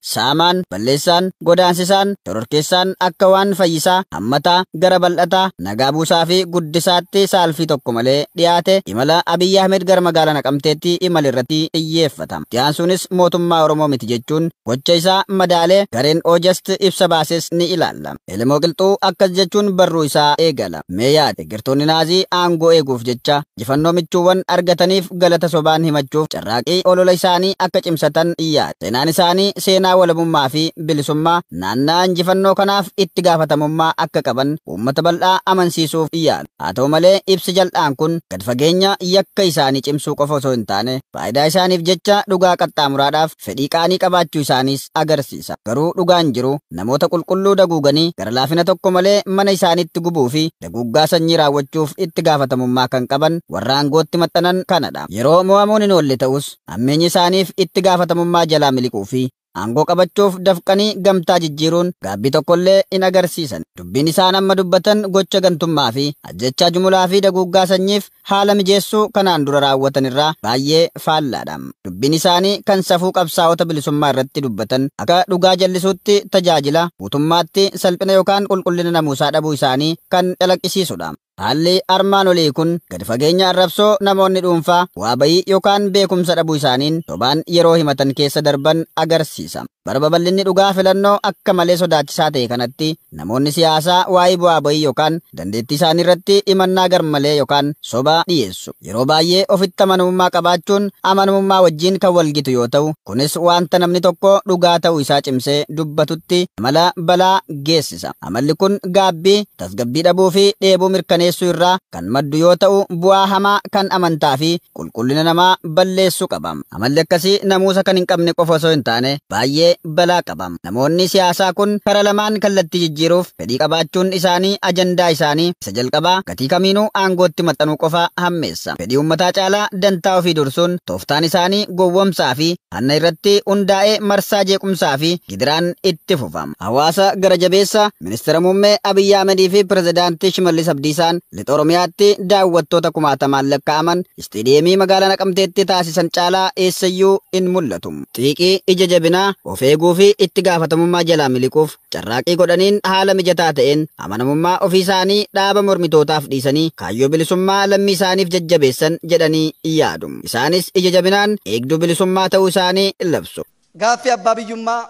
Saamaan, balleessaan, godaansisaan, shororkeessaan akka waan fayyisaa, hammataa, gara bal'ataa, nagaa buusaa fi guddisaatti saalfii tokko malee dhiyaate imala Abiy Ahmed gara magaalaa Naqamteetti imale irratti xiyyeeffata. Itti aansuunis mootummaa Oromoo miti jechuun gocha isaa madaalee gareen Ojst ibsa baases ni ilaalla. Elemoo Qilxuu akkas jechuun barruu isaa eegala. Mee yaadi, Deggertoonni Naazii aangoo eeguuf jecha Injifannoo michuuwwan argataniif galata sobaan himachuuf carraaqii olola isaanii akka cimsatan yaada. Seenaan isaanii seenaa walabummaa fi bilisummaa naanna'a injifannoo kanaaf itti gaafatamummaa akka qaban uummata bal'aa amansiisuuf yaalu. Haa ta'u malee ibsi jal'aan kun gad fageenya yakka isaanii cimsuu qofa osoo hin taane faayidaa isaaniif jecha dhugaa qaxxaamuraadhaaf, fedhii qaanii qabaachuu isaaniis agarsiisa. Garuu dhugaan jiru namoota qulqulluu daguuganii gara laafina tokko malee mana isaaniitti gubuu fi daguuggaa sanyii raawwachuuf itti gaafatamummaa kan qaban warra aangootti maxxanan kana dha. Yeroo mo'amuun hin oolle ta'us hammeenyi isaaniif itti gaafatamummaa jalaa miliquu fi aangoo qabachuuf dafqanii gamtaa jijjiiruun gaabbii tokko illee hin agarsiisani. Dubbiin isaan amma dubbatan gocha gantummaa fi ajjeechaa jumulaa fi daguuggaa sanyiif haala mijeessuu kanaan dura raawwatan irraa baay'ee faallaadha. Dubbiin isaanii kan safuu qabsaa'ota bilisummaa irratti dubbatan akka dhugaa jallisuutti tajaajila, guutummaatti salphina yookaan qulqullina namuusaa dhabuu isaanii kan calaqqisiisudha. Haalli armaan olii kun gadi fageenya arrabsoo namoonni dhuunfaa bu'aa ba'ii yookaan beekumsa dhabuu isaaniin sobaan yeroo himatan keessa darban agarsiisa. Bara babal'inni dhugaa filannoo akka malee sodaachisaa ta'e kanatti Namoonni siyaasaa waa'ee bu'aa ba'ii yookaan dandeettii isaanii irratti himannaa garmalee yookaan sobaa dhiyeessu. Yeroo baay'ee ofitti amanamummaa qabaachuun amanamummaa wajjin kan wal gitu yoo ta'u, kunis wanta namni tokko dhugaa ta'uu isaa cimsee dubbatutti amala balaa geessisa. Amalli kun gaabbii, tasgabbii dhabuu fi dheebuu mirkaneessuu irraa kan maddu yoo ta'u, bu'aa hamaa kan amantaa fi qulqullina namaa balleessu qaba. Amalli akkasii namuusa kan hin qabne qofa osoo hin taane baay'ee balaa qaba. Namoonni siyaasaa kun karaa lamaan kallattii jijjiiruuf fedhii qabaachuun isaanii ajandaa isaanii isa jalqabaa gatii kamiinuu aangootti maxxanuu qofa hammeessa. Fedhii uummataa caalaa dantaa ofii dursuun tooftaan isaanii gowwomsaa fi hanna irratti hundaa'e marsaa jeequmsaa fi gidiraan itti fufa. Hawaasa gara jabeessa, Ministira Muummee Abiy Ahmed fi Pirezidaantii Shimallis Abdiisaan Lixa Oromiyaatti daawwattoota kumaatamaan lakkaa'aman Isteediyeemii magaalaa Naqamteetti taasisan caalaa eessayyuu hin mul'atu. Xiiqii, ija jabinaa, of eeguufi itti gaafatamummaa jalaa miliquuf carraaqqii godhaniin haala mijataa ta'een amanamummaa ofiisaanii dhaaba mormitootaaf dhiisanii kaayyoo bilisummaa lammiisaaniif jajjabeessan jedhanii yaadu. Isaanis ija jabinaan eegduu bilisummaa ta'uu isaanii labsu. Gaaffii abbaa biyyummaa,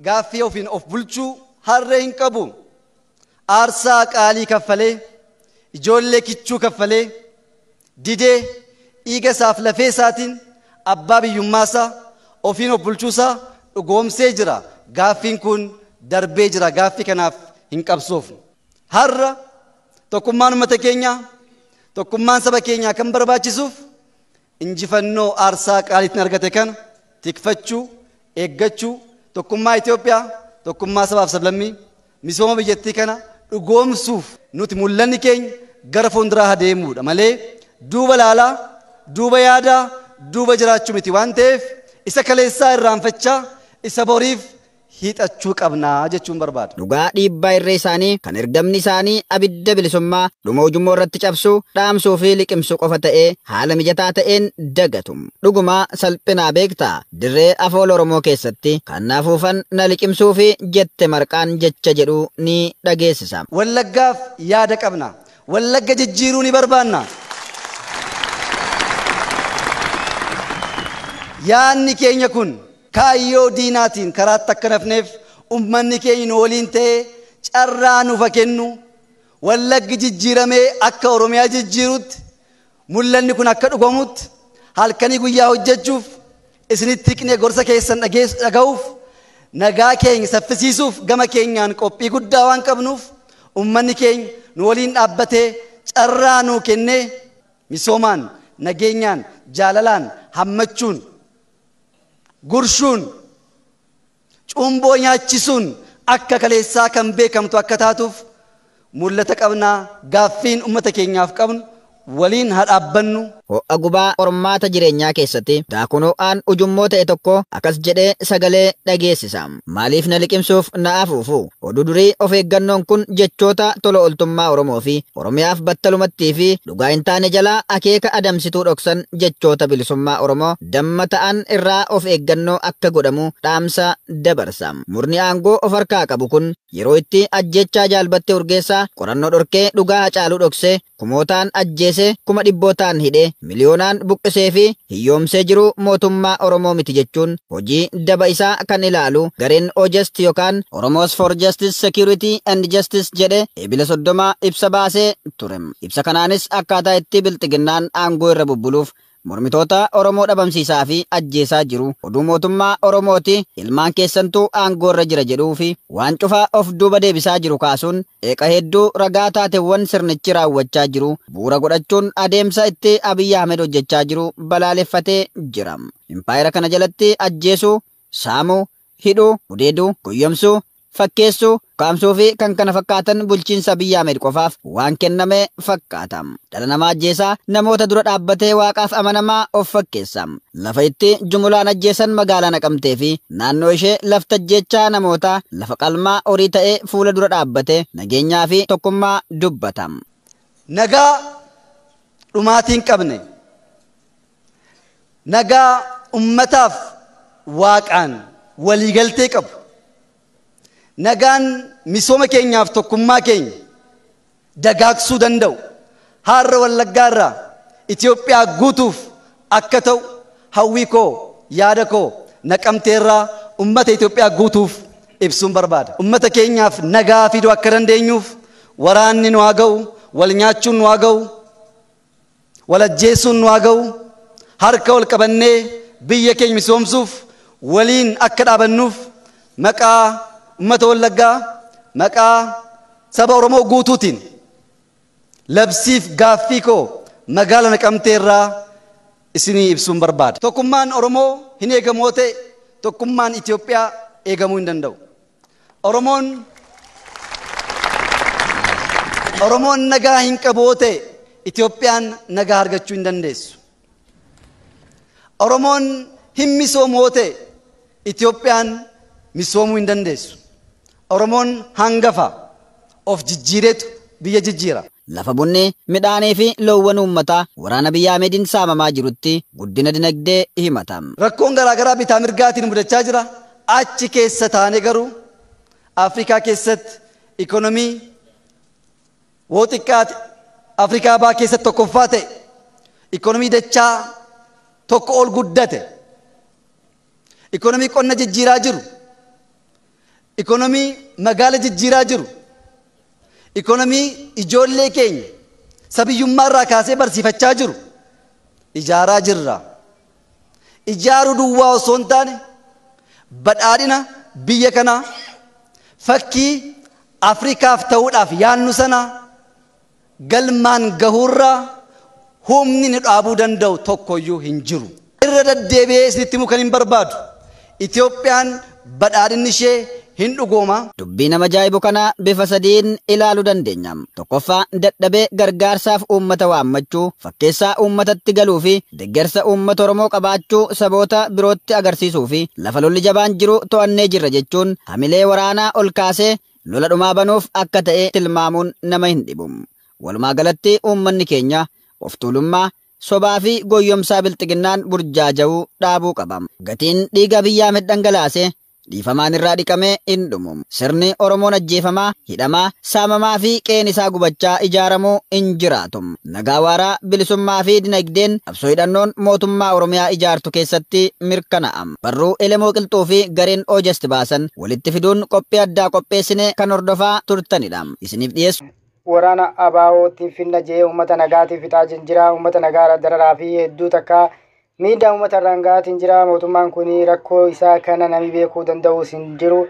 gaaffii ofiin of bulchuu harree hin qabu. Aarsaa qaalii kaffalee, ijoollee kichuu kaffalee, didee, dhiiga isaaf lafee isaatiin abbaa biyyummaa isaa, ofiin of bulchuu isaa dhugoomsee jira. Gaaffiin kun darbee jira. Gaaffii kanaaf hin qabsoofnu. Har'a tokkummaan uummata keenyaa, tokkummaan saba keenyaa kan barbaachisuuf injifannoo aarsaa qaalii ittiin argate kana tikfachuu, eeggachuu, tokkummaa Itoophiyaa, tokkummaa sabaaf sablammii, Misooma biyyattii kana dhugoomsuuf nuti mul'anni keenya gara fuulduraa haa deemuudha malee duuba laalaa, duuba yaadaa, duuba jiraachuu miti waan ta'eef isa kaleessaa irraanfachaa isa boriif hiixachuu qabna jechuun barbaada. Dhugaa dhiibbaa irree isaanii kan ergamni isaanii abidda bilisummaa dhuma ujummoo irratti cabsuu, dhaamsuu fi liqimsuu qofa ta'ee haala mijataa ta'een dagatu. Dhugumaa salphinaa beektaa? Dirree Afoola Oromoo keessatti kan na afuufan na liqimsuufi jette marqaan jecha jedhu ni dhageessisa. Wallaggaaf yaada qabna. Wallagga jijjiiruu ni barbaanna. Yaadni keenya kun kaayyoo diinaatiin karaatti akka hin hafneef ummanni keenya nu waliin ta'ee carraa nuuf haa kennu. Wallaggi jijjiiramee akka Oromiyaa jijjiirutti Mul'anni kun akka dhugomuutti halkanii guyyaa hojjechuuf, isinitti hiqnee gorsa keessan dhageess dhagahuuf, nagaa keeny saffisiisuuf gama keenyaan qophii guddaa waan qabnuuf ummanni keeny nu waliin dhaabbatee carraa nuu kennee misoomaan, nageenyaan, jaalalaan, hammachuun, gurshuun, Cumboo nyaachisuun akka kaleessaa kan beekamtu akka taatuuf mul'ata qabna, gaaffiin ummata keenyaaf qabnu waliin haa dhaabbannu. Ho'a gubaa qormaata jireenyaa keessatti daakuun ho'aan ujummoo ta'e tokko akkas jedhee sagalee dhageessisa, Maaliif na liqimsuuf na afuufuu? Oduu durii of eeggannoon kun jechoota tola oltummaa Oromoo fi Oromiyaaf battalumattii fi dhugaa hin taane jalaa akeeka adamsituu dhoksan jechoota bilisummaa Oromoo damma ta'an irraa of eeggannoo akka godhamu dhaamsa dabarsa. Murni aangoo of harkaa qabu kun yeroo itti ajjeechaa Jaal Battee Urgeessaa qorannoo dhorkee dhugaa Hacaaluu dhoksee kumootaan ajjeesee, kuma dhibbootaan hidhee, miliyoonaan buqqisee fi hiyyoomsee jiru mootummaa Oromoo miti jechuun hojii daba isaa kan ilaalu gareen OJust yokaan Oromos for Justice, Security and Justice jedhe Eebila 30 ibsa baasee ture. Ibsa kanaanis akkaataa itti Bilxiginnaan aangoo irra bubbuluuf Mormitoota Oromoo dhabamsiisaa fi ajjeesaa jiru, oduu mootummaa Oromooti, ilmaan keessantu aangoo irra jira jedhuu fi waan cufa of duuba deebisaa jiru kaasuun qeeqa hedduu ragaa taatewwan sirnichi raawwachaa jiru bu'uura godhachuun adeemsa itti Abiy Ahmed hojjechaa jiru balaaleffatee jira. Impaayera kana jalatti ajjeesuu, saamuu, hidhuu, gudeeduu, goyyomsuu, fakkeessuu, ukkaamsuu fi kan kana fakkaatan bulchiinsa Abiy Ahmed qofaaf waan kenname fakkaata. Dhala namaa ajjeesa, namoota dura dhaabbatee Waaqaaf amanamaa of fakkeessa. Lafa itti jumulaan ajjeesan magaalaa Naqamtee fi naannoo ishee lafti ajjeechaa namootaa lafa qalmaa horii ta'e fuula dura dhaabbatee nageenyaa fi tokkummaa dubbata. Nagaa dhumaatii hin qabne. Nagaa ummataaf Waaqaan waliigaltee qabu. Nagaan misooma keenyaaf tokkummaa keenya dagaagsuu danda'u. Haarra Wallaggaa irraa Itoophiyaa guutuuf akka ta'u hawwii koo, yaada koo Naqamtee irraa ummata Itoophiyaa guutuuf ibsuun barbaada. Ummata keenyaaf nagaa fiduu akka dandeenyuuf waraanni nu haa ga'u, wal nyaachuun nu haa ga'u, Wal ajjeessuun nu haa ga'u, harka wal qabannee biyya keenya misoomsuuf waliin akka dhaabannuuf maqaa Ummata Wallaggaa, maqaa Saba Oromoo guutuutiin labsiif gaaffii koo Magaala Naqamtee irraa isinii ibsuun barbaada. Tokkummaan Oromoo hin eegamu yoo ta'e, tokkummaan Itoophiyaa eegamuu hin danda'u. Oromoon Oromoon nagaa hin qabu yoo ta'e Itoophiyaan nagaa argachuu hin dandeessu. Oromoon hin misoomu yoo ta'e Itoophiyaan misoomuu hin dandeessu. Oromoon hangafa. of jijjiireetu biyya jijjiira. Lafa bunni, midhaanii fi loowwan uummataa waraana Abiy Ahmediin saamamaa jirutti guddina dinagdee himata. Rakkoon garaagaraa bitaa mirgaatiin mudachaa jira, achi keessa taanee garuu Afrikaa keessatti ikonomii woo xiqqaate Afrikaa Bahaa keessatti tokkoffaa ta'e, ikonomii dachaa tokko ol guddate, ikonomii qonna jijjiiraa jiru, Ikonomii magaala jijjiiraa jiru, ikonomii ijoollee keenya isa biyyummaa irraa kaasee barsiifachaa jiru ijaaraa jirra. Ijaaruu duwwaa osoo hin taane badhaadhina biyya kanaa fakkii Afrikaaf ta'uudhaaf yaadnu sanaa, Galmaan gahuurra humni nu dhaabuu danda'u tokkoyyuu hin jiru. Irra daddeebi'ee isinitti himuu kanin barbaadu, Itoophiyaan badhaadhinni ishee hin dhugooma. Dubbii nama ajaa'ibu kana bifa sadiin ilaaluu dandeenya. Tokkoffaa, dadhabee gargaarsaaf uummata waammachuu, fakkeessaa uummatatti galuufi deggersa uummata Oromoo qabaachuu saboota birootti agarsiisuufi lafa lolli jabaan jiru to'annee jirra jechuun hamilee waraanaa ol kaasee lola dhumaa banuuf akka ta'e tilmaamuun nama hin dhibu. Walumaa galatti uummanni keenya of tuulummaa, sobaa fi goyyomsaa bilxiginnaan burjaaja'u dhaabuu qaba. Gatiin dhiiga Abiy Ahmed dhangalaase dhiifamaan irraa dhiqamee hin dhumu. Sirni Oromoon ajjeefamaa, hidhamaa, saamamaa fi qe'een isaa gubachaa ijaaramu hin jiraatu. Nagaa waaraa, bilisummaa fi dinagdeen qabsoo hidhannoon mootummaa Oromiyaa ijaartu keessatti mirkanaa'a. Barruu Elemoo Qilxuu fi gareen Ojst baasan. walitti fiduun qophii addaa qopheessine kan hordofaa turtanidha. Isiniif dhiyeessu. Waraana ABO tiin finna jee uummata nagaatii fixaatiin jira. Uummata nagaarra dararaa fi hedduu takka miidhaa uummata irraan ga'aatiin jira. Mootummaan kun rakkoo isaa kana nami beekuu danda'uus hin jiru.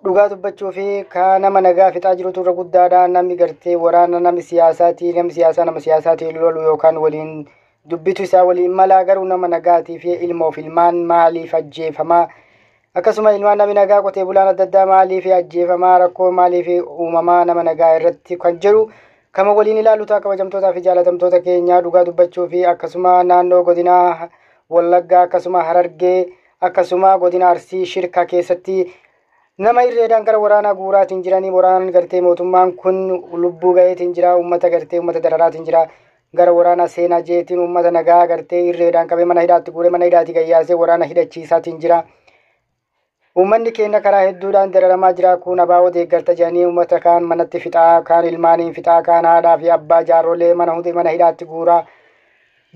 Dhugaa dubbachuu fi ka nama nagaa fixaa jirutu irra guddaadha. Namni gartee waraana namni siyaasaatii namni siyaasaa nama siyaasaatiin lolu yookaan waliin dubbitu isaa waliin malaa garuu nama nagaatii fi ilmoof ilmaan maaliif ajjeefamaa akkasuma ilmaan nami nagaa qotee bulaan adda addaa maaliif ajjeefamaa rakkoo maaliif uumamaa nama nagaa irratti kan jedhu kama waliin ilaalu ta'a kabajamtootaa fi jaalatamtoota keenyaa dhugaa dubbachuu fi akkasuma naannoo godinaa wallaggaa akkasuma harargee akkasuma godina arsii shirkaa keessatti nama irreedhaan gara waraanaa guuraatiin jiranii waraanaan gartee mootummaan kun lubbuu gaheetiin jira uummata gartee uummata dararaatiin jira gara waraanaa seenaa jeetiin uummata nagaa agartee irreedhaan qabee mana hidhaatti guuree mana hidhaatti gayyaasee waraana hidhachiisaatiin jira. Uummanni keenya karaa hedduudhaan dararamaa jira kun abaa'oo deeggarta jedhanii uummata kaan manatti fixaa kaan ilmaaniin fixaa kaan haadhaa fi abbaa jaarrolee mana hundi mana hidhaatti guuraa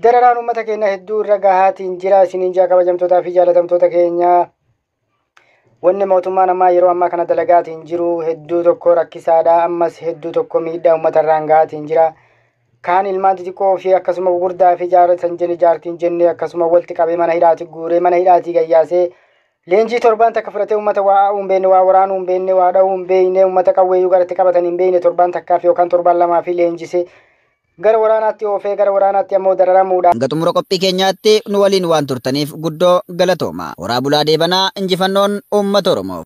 dararaan uummata keenya hedduu irra gahaatiin jira isiniin jaa kabajamtootaa fi jaalatamtoota keenyaa. Wanni mootummaan ammaa yeroo ammaa kana dalagaatiin jiru hedduu tokko rakkisaadha. Ammas hedduu tokko miidhaa uummata irraan gahaatiin jira. Kaan ilmaan xixiqqoo fi akkasuma gugurdaa fi jaarratan jenne jaartiin jenne akkasuma walitti qabee mana hidhaati guuree mana hidhaatii gayyaasee leenjii torbaan takka fudhatee uummata waa aa'uu hin beekne waa waraanuu hin beekne waa dhahuu hin beekne uummata qawweeyyuu garatti qabatan hin beekne torbaan takkaaf yookaan torbaan lamaa fi leenjisee gara waraanaatti oofee gara waraanaatti ammoo dararamuudha. Hanga xumura qophii keenyaatti nu waliin waan turtaniif guddoo galatoomaa. Horaa bulaa deebanaa injifannoon uummata Oromoof.